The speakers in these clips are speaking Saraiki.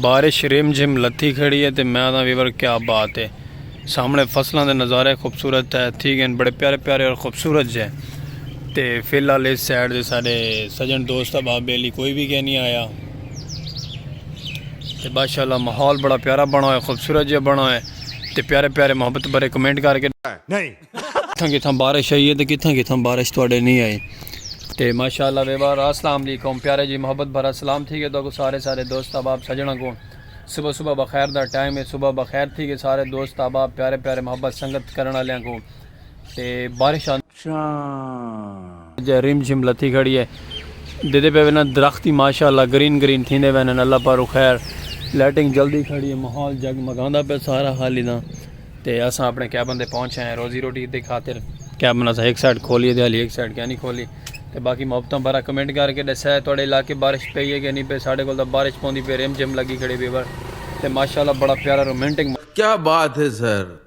بارش رم جھم لتھی کھڑی ہے تے میں آدھاں ویور کیا بات ہے سامنے فصلاں دے نظارے خوبصورت ہے تھی گئے بڑے پیارے پیارے اور خوبصورت جے تے فی الحال اس سائڈ دے سارے سجن دوست احباب بیلی کوئی بھی کہہ نہیں آیا تے ماشاءاللہ ماحول بڑا پیارا بنا ہوئے خوبصورت جے بنا ہوئے تے پیارے پیارے محبت بھرے کمنٹ کر کے کتھاں کتھاں بارش آئی ہے تے کتھاں کتھاں بارش تواڈے نہیں آئی تے ماشاءاللہ ویوار السلام علیکم پیارے جی محبت بھرا سلام تھی گئے تو کو سارے سارے دوست احباب سجنا کو صبح صبح بخیر دا ٹائم ہے صبح بخیر تھی گئے سارے دوست احباب پیارے پیارے محبت سنگت کرن والیاں کو تے بارش آن شاں جے رم جھم لتھی کھڑی ہے دیدے پے وینا درخت ہی ماشاءاللہ گرین گرین تھیندے وینن اللہ پارو خیر لائٹنگ جلدی کھڑی ہے ماحول جگ مگاندا پے سارا حالی دا تے اساں اپنے کیبن دے پہنچ آئے روزی روٹی دی خاطر کیبن اساں ایک سائیڈ کھولی تے حالی ایک سائیڈ کیا نہیں کھولی تے باقی محبتاں بارہ کمنٹ کر کے دسیا ہے تھوڑے علاقے بارش پئی ہے کہ نہیں پئی ساڈے کول دا بارش پوندی پے رم جھم لگی کھڑی بیور تے ماشاءاللہ بڑا پیارا رومانٹک کیا بات ہے سر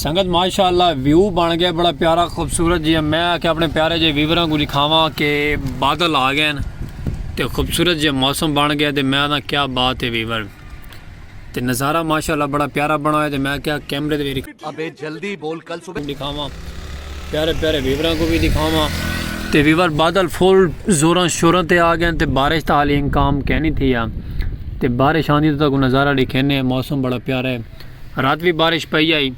سنگت ماشاء اللہ ویو بن گیا بڑا پیارا خوبصورت جی میں آ کے اپنے پیارے جی ویوراں کو دکھاواں کہ بادل آ گئے تے خوبصورت جی موسم بن گیا تے میں آنا کیا بات ہے ویور تے نظارہ ماشاء اللہ بڑا پیارا بنا ہے تے میں کیا کیمرے دے ابے جلدی بول کل صبح دکھاواں پیارے پیارے ویوراں کو بھی دکھاواں تے ویور بادل فل زوراں شوراں تے آ گئے تے بارش تا حالی انکام کینی تھی ہے تے بارش آندی تو تاکو نظارہ ڈکھینے موسم بڑا پیارا ہے رات بھی بارش پئی آئی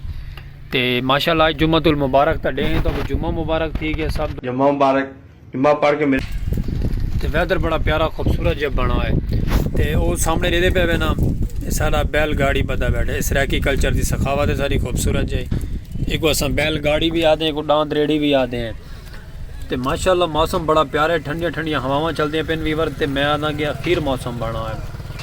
تے ماشاءاللہ جمعہ المبارک تا ڈے ہیں تو جمعہ مبارک تھی گیا سب جمعہ مبارک ماں پڑھ کے میرے تے ویدر بڑا پیارا خوبصورت جب بنا ہے تے او سامنے ریدے پہ وینا سارا بیل گاڑی بدا بیٹھا ہے سرائیکی کلچر دی سخاوت ہے ساری خوبصورت جائے ایک وہ اساں بیل گاڑی بھی آدھے ہیں ایک ڈاند ریڑی بھی آدھے ہیں تے ماشاءاللہ موسم بڑا پیارا ہے ٹھنڈیاں ٹھنڈیاں ہواواں چلدیاں پین ویور تے میں آدھاں کہ اخیر موسم بنا ہے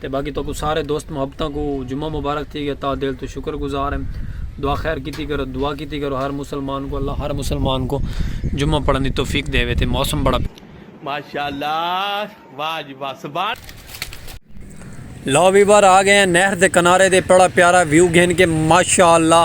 تے باقی تہاکوں سارے دوست محبتاں کوں جمعہ مبارک تھی گیا تہا دل توں شکر گزار ہیں دعا خیر کیتی کرو دعا کیتی کرو ہر مسلمان کوں اللہ ہر مسلمان کوں جمعہ پڑھن دی توفیق دیوے تے موسم بڑا ماشاءاللہ واہ جی واہ سبحان لو ویور آ گئے ہیں نہر دے کنارے دے بڑا پیارا ویو گھن کے ماشاءاللہ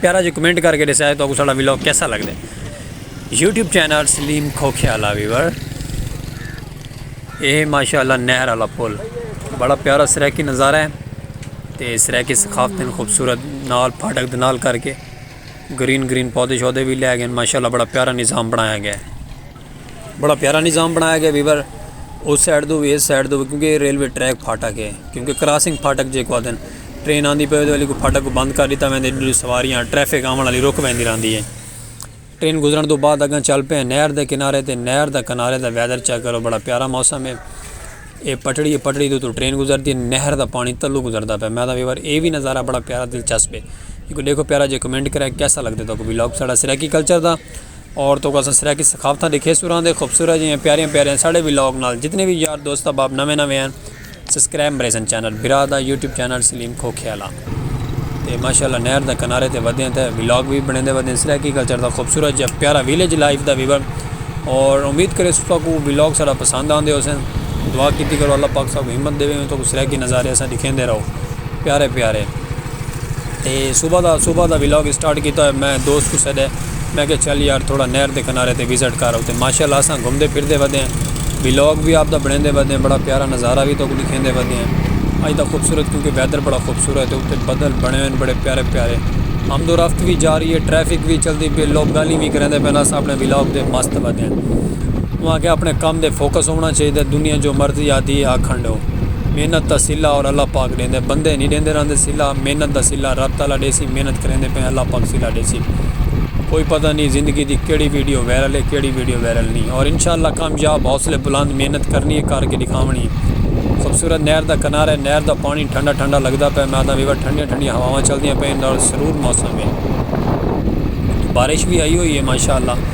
پیارا جی کمنٹ کر کے ڈسیا ہے تو اگو ساڑا ویلوگ کیسا لگ دے یوٹیوب چینل سلیم کھوکھے والا ویور اے ماشاءاللہ نہر والا پل بڑا پیارا سریکی نظارہ ہے تے سریکی ثقافت خوبصورت نال پھاٹک دے نال کر کے گرین گرین پودے شودے بھی لے گئے ماشاءاللہ بڑا پیارا نظام بنایا گیا ہے بڑا پیارا نظام بنایا گیا ویور اس سائڈ دو بھی اس سائڈ دو بھی کیونکہ ریلوے ٹریک پھاٹک ہے کیونکہ کراسنگ پھاٹک جے کو آدھن ٹرین آندھی پہ والی کو پھاٹک کو بند کر دیتا ویندے جو سواریاں ٹریفک آمن والی رک ویندی رہندی ہے ٹرین گزرن دو بعد اگاں چل پہ نہر دے کنارے تے نہر دا کنارے دا ویدر چیک کرو بڑا پیارا موسم ہے اے پٹڑی ہے پٹڑی دو تو ٹرین گزر دی نہر دا پانی تلو گزر دا پہ میں دا ویور اے بھی نظارہ بڑا پیارا دلچسپ ہے دیکھو پیارا جے کمنٹ کرے کیسا لگ دے تو کو بھی لوگ سڑا سرائیکی کلچر دا اور توں کوں اساں سرائیکی ثقافتاں دے کھیسوراں دے خوبصورت جیاں پیاریاں پیاریاں ساڑے وی لاگ نال جتنے وی یار دوست احباب نویں نویں ہیں سبسکرائب مریسن چینل برا دا یوٹیوب چینل سلیم کھوکھیالا تے ماشاءاللہ نہر دا کنارے تے ودیاں تے ولاگ وی بنے دے ودیاں سرائیکی کلچر دا خوبصورت جیاں پیارا ویلیج لائف دا ویور اور امید کرے ستا کو ولاگ سارا پسند آندے ہو سن دعا کیتی کرو اللہ پاک سا کو ہمت دے وے تو کو سرائیکی نظارے اساں دکھیں دے رہو پیارے پیارے تے صبح دا صبح دا ولاگ اسٹارٹ کیتا ہوئے میں دوست کو سیڈے میں کہ چل یار تھوڑا نہر دے کنارے تے وزٹ کر آتے ماشاء اللہ اساں گھومدے پھردے ودے ہیں ولاگ بھی آپ دا بنیندے ودے ہیں بڑا پیارا نظارہ بھی توکوں دکھیندے ودے ہیں اج دا خوبصورت کیونکہ ویدر بڑا خوبصورت ہے اتے بدل بنے ہوئے ہیں بڑے پیارے پیارے آمد و رفت بھی جاری ہے ٹریفک بھی چلدی پی لوگ گالی بھی کریندے پے اساں اپنے ولاگ دے مست ودے ہیں انہاں کہ اپنے کام دے فوکس ہونا چاہیے دنیا جو مرضی آدھی آکھنڈو محنت تسلہ اور اللہ پاک ڈے ݙیندے بندے نی ݙیندے رہندے صلہ محنت دا صلہ رب تعالی ݙیسی محنت کریندے پئے ہیں اللہ پاک صلہ ݙیسی کوئی پتہ نی زندگی دی کیڑھی ویڈیو وائرل ہے کیڑھی ویڈیو وائرل نی اور انشاء اللہ کامیاب حوصلے بلند محنت کرنی ہے کر کے ݙکھاوݨی ہے خوبصورت نہر دا کنارہ ہے نہر دا پاݨی ٹھنڈا ٹھنڈا لڳدا پئے میں آہداں ویوا ٹھنڈیاں ٹھنڈیاں ہواواں چلدیاں پئین نال سرور موسم ہے بارش وی ہئی ہوئی ہے ماشاء اللہ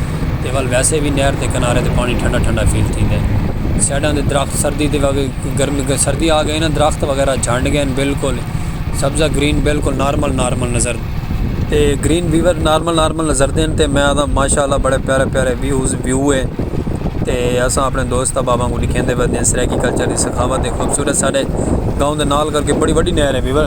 تے ول ویسے وی نہر دے کنارے تے پاݨی ٹھنڈا ٹھنڈا فیل تھیندے سائیڈاں دے درخت سردی دے وڳ گرمی تے سردی آ گئی نہ درخت وغیرہ جھنڈ گئے نہ بالکل سبزہ گرین بالکل نارمل نارمل نظر تے گرین ویور نارمل نارمل نظر دین تے میں آدھا ماشاء اللہ بڑے پیارے پیارے ویوز ویو ہے تے اساں اپنے دوست احباباں کو ڈکھیندے پے سرائیکی کلچر دی سخاوت ہے خوبصورت ساڈے گاؤں دے نال کر کے بڑی وڈی نہر ہے ویور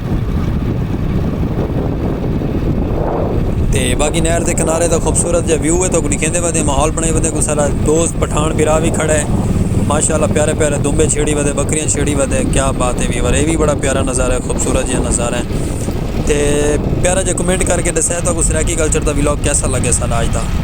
تے باقی نہر دے کنارے دا خوبصورت جا ویو ہے تو لکھیں دے بعد ماحول بݨائی ودے کو سارا دوست پٹھان پھرا بھی کھڑا ہے ماشاء اللہ پیارے پیارے دمبے چھیڑی ودے بکریاں چھیڑی ودے کیا بات ہے بھی ورے بھی بڑا پیارا نظارہ ہے خوبصورت جا نظارہ ہے تے پیارا جا کمنٹ کر کے ڈسے تو سرائیکی کلچر دا ولاگ کیسا لگے سارا آج دا